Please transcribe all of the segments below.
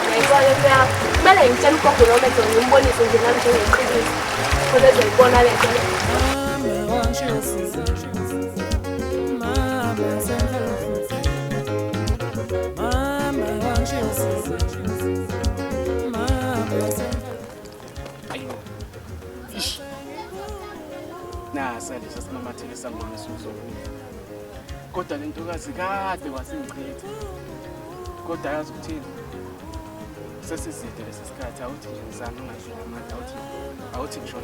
Ngiyayibona into yakho. Kumele ngitshele ugogo noma ezo ngimbonise nje nami njengeqiniso. Khona ezoyibona le nto. nasa lesi esimamathele sangoma esiwuzokudla kodwa le ntokazi kade wasingichitha kodwa yazi ukuthini sesiside lesi sikhathi awuthi nje ngizana ungadlula amandla awuthi awuthi ngisho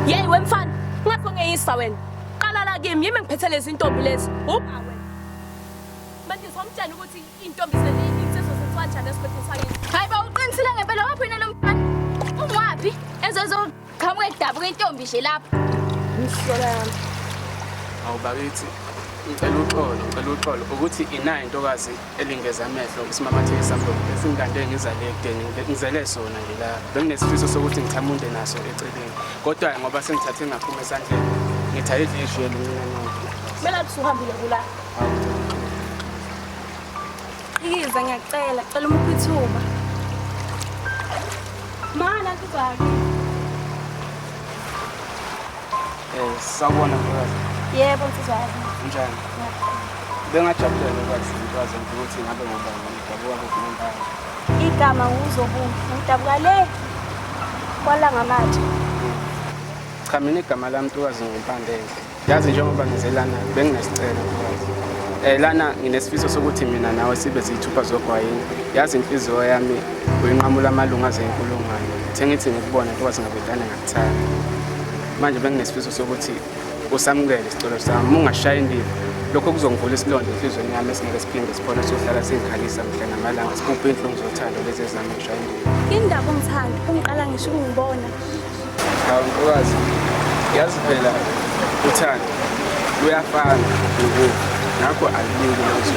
yeyi wemfana ngathi ongeyisa wena qala la kimi yimi ngiphethe lezi ntombi lezi ubhawe manje somtshela ukuthi Intombi selini insizwa seswajana esigodini sakithi. Hayi ba uqinisile ngempela waphi yena lo mfana? Ungwaphi? Ezozo qhamuka edabuka intombi nje lapha. Msola yami. Awu bakithi ngicela uxolo ngicela uxolo ukuthi inayo intokazi elingeza amehlo isimamatheke samlomo esingikande ngizale ekudeni ngizele sona nje la benginesifiso sokuthi ngithamunde naso eceleni kodwa ngoba sengithathe ngaphuma esandleni ngithaye idlishwe lomnyango Kumele athi uhambile kula. Awu. Ikiza ngiyacela, cela umuphe ithuba. Mana ntuzake. Eh, sawubona mfakazi. Yebo ntuzake. Unjani? Bengajabulela ukwazi mfakazi ukuthi ngabe ngubani ngidabuka kuphi nendawo. Igama nguzobuhle, ngidabuka le kwalanga manje. Cha mina igama lami ntokazi ngimpandele. Yazi njengoba ngize lana benginesicelo eh lana nginesifiso sokuthi mina nawe sibe ziyithupha zogwayini yazi inhliziyo yami uyinqamula amalungu aze inkulungwane sengithi ngikubona kuba singabedane ngakuthanda manje benginesifiso sokuthi usamukele isicelo sami ungashayi indiva lokho kuzongivula isilonda enhlizweni yami esingeke siphinde sikhona sohlala singikhalisa mhla namalanga sibubhe inhlungu zothando lezi ezami ngishaya indiva indaba umthando ungiqala ngisho ukungibona Awukazi yazi phela uthando luyafana nokufa ngakho alibiki manje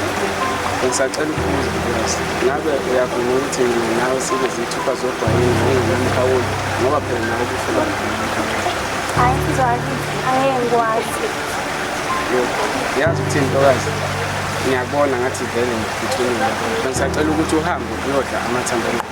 ngisacela ukubuza mnikazi ngabe uyavuma ukuthi mina nawe sibe zithupha zodwa yini ngokungenamkhawulo ngoba phela nawe kufuba hayi mzali angeke ngikwazi yazi ukuthi ntokazi ngiyakubona ngathi vele ngiphuthumile ngisacela ukuthi uhambe uyodla amathambo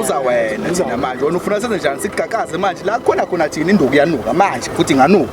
uza wena thina manje wena ufuna senze njani sikugagaze manje la khona khona thina induku yanuka manje futhi inganuka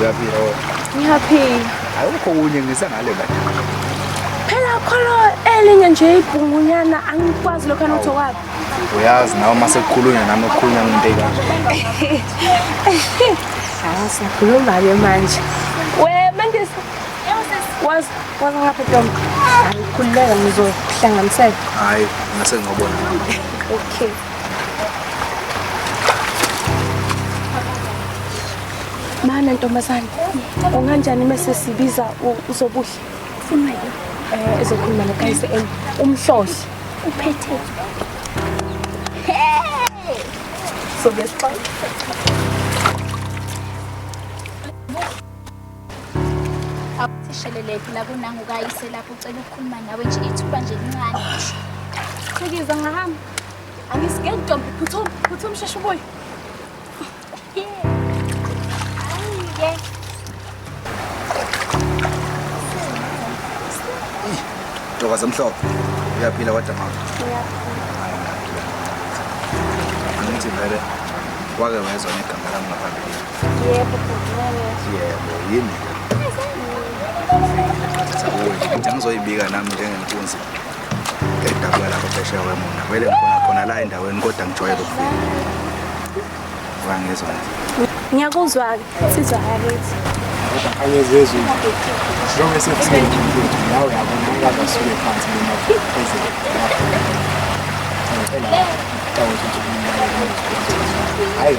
uyaphila wena ngiyaphila ayikho kunye ngisengale la phela kholo elinye nje ibhungunyana angikwazi lokho anotho kwabo uyazi nawe uma sekukhulunywa nami okukhulunywa ngento ekanje hayi sikhuluma-ke manje we mandisa wazi wazi ngapha ntombi ayikhululeka ngizohlanganisela hayi ngase ngobona okay Mana ntombazane, unganjani mese sibiza uzobuhle? Ufuna yini? Eh, ezokhuluma noKayise and umhlohli. Uphethe. Hey! So besixoxa. Awuthisheleleki la kunangu kayise lapho ucela ukukhuluma nawe nje ithuba nje lincane. Chikiza ngahamba. Angisike ntombi phuthuma phuthuma sheshe ubuye. Ayike. Doka zamhlophe. Uyaphila kodwa mama. Angithi vele wake wezwa negama lami ngaphambilini. Yebo, yebo, yini? Ngizoyibika nami njengenkunzi edabuka lapho phesheya kwemona. Vele ngikhona khona la endaweni kodwa ngijwayele ukufika. Wangizwa nje. Ngiyakuzwa-ke, sizwa yakithi. Angezezwe. Njengoba esefike nawe yabona ukwazi asuke phansi noma phezulu. Ngicela. Hayi.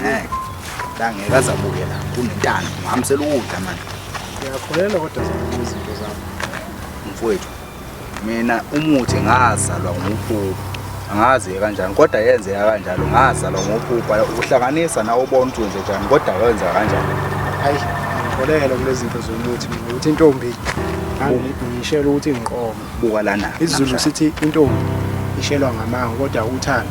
ngeke la ngeke azabuye la kunentana ngihambisela ukudla manje ngiyakholelwa kodwa zikho izinto zakho mfowethu mina umuthi ngazalwa nguphupho angazi kanjani kodwa yenzeka kanjalo ngazalwa ngophupha ukuhlanganisa nawe ubona ukuthi wenze njani kodwa wenza kanjani hayi ngikholelwa kulezi zinto zomuthi mina ukuthi intombi ngishela ukuthi ngiqoma buka lana isizulu sithi intombi ishelwa ngamanga kodwa uthando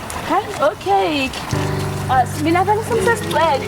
Hayi, okay. Ah, mina vele semsesicele.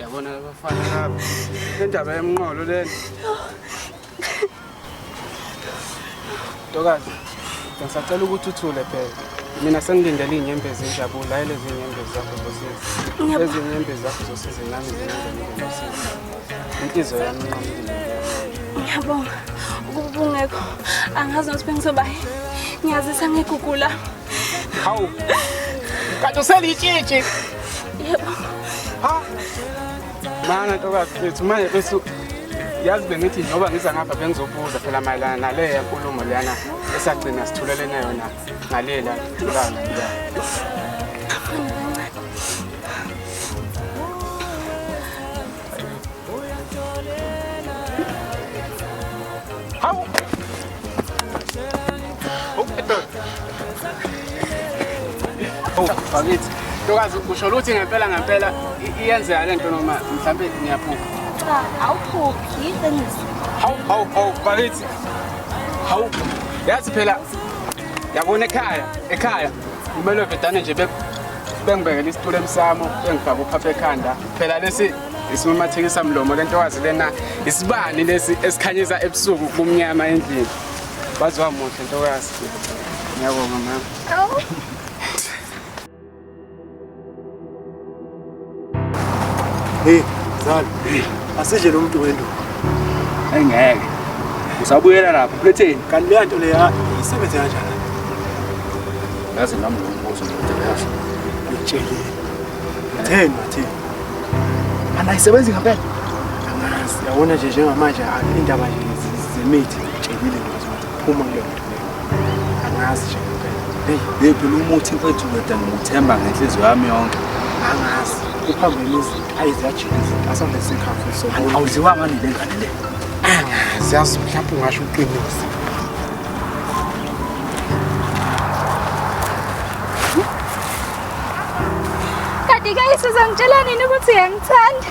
Yabona abafana laba. Indaba yemnqolo lena. Ntokazi, ngisacela ukuthi uthule phela. Mina sengilindele iy'nyembezi injabulo, hhayi lezi nyembezi zakho zosizi. Ngiyabonga. Lezi nyembezi zakho zosizi nami zingenzelile usizi. Inhliziyo yami inqamile. ngiyabonga ukuba ubungekho angazi nokuthi bengizobayi ngiyazisa ngegugula Hawu. Kanti uselitshitshi. yebo Ha? Mana ntokazi bethu manje besu yazi bengithi njengoba ngiza ngapha bengizobuza phela mayelana naleya nkulumo leyana esagcina sithulelene yona ngalela thulana ya Hawu Oh, bakithi. Ntokazi usho ukuthi ngempela ngempela iyenzeka lento noma mhlambe ngiyaphupha. Cha, awuphuphi iqiniso. Hawu hawu hawu bakithi. Hawu. Yazi phela yabona ekhaya, ekhaya kumele vedane nje bengibekela isitulo emsamo bengifaka uphapha ekhanda. Phela lesi isimumathekisa mlomo lentokazi lena isibani lesi esikhanyisa ebusuku kumnyama endlini. Waze wamuhle ntokazi. Ngiyabonga mama. Awu. Hey, Zali. Asidle lo muntu wenduku. Engeke. Usabuyela lapho uphetheni. Kanti leya nto leya isebenze kanjani? Ngaze nami ngombuzo ndoda yazi. Ngitshelile. Theni mathi. Ana isebenzi ngempela. Angazi. Yabona nje njengamanje indaba nje zemithi. Ngitshekile ngithi phuma kuleyo nto leyo. Angazi nje ngempela. Hey, baby lo muthi mfethu kodwa ngimuthemba ngenhliziyo yami yonke. Angazi. Uphambene izinto ayiziyajika izinto asonde sikhafu so. Awuziwa ngani le ngane le? Angazi yazi mhlawumbe ungasho uqinise. Kanti ke isizongitshela nini ukuthi uyangithanda?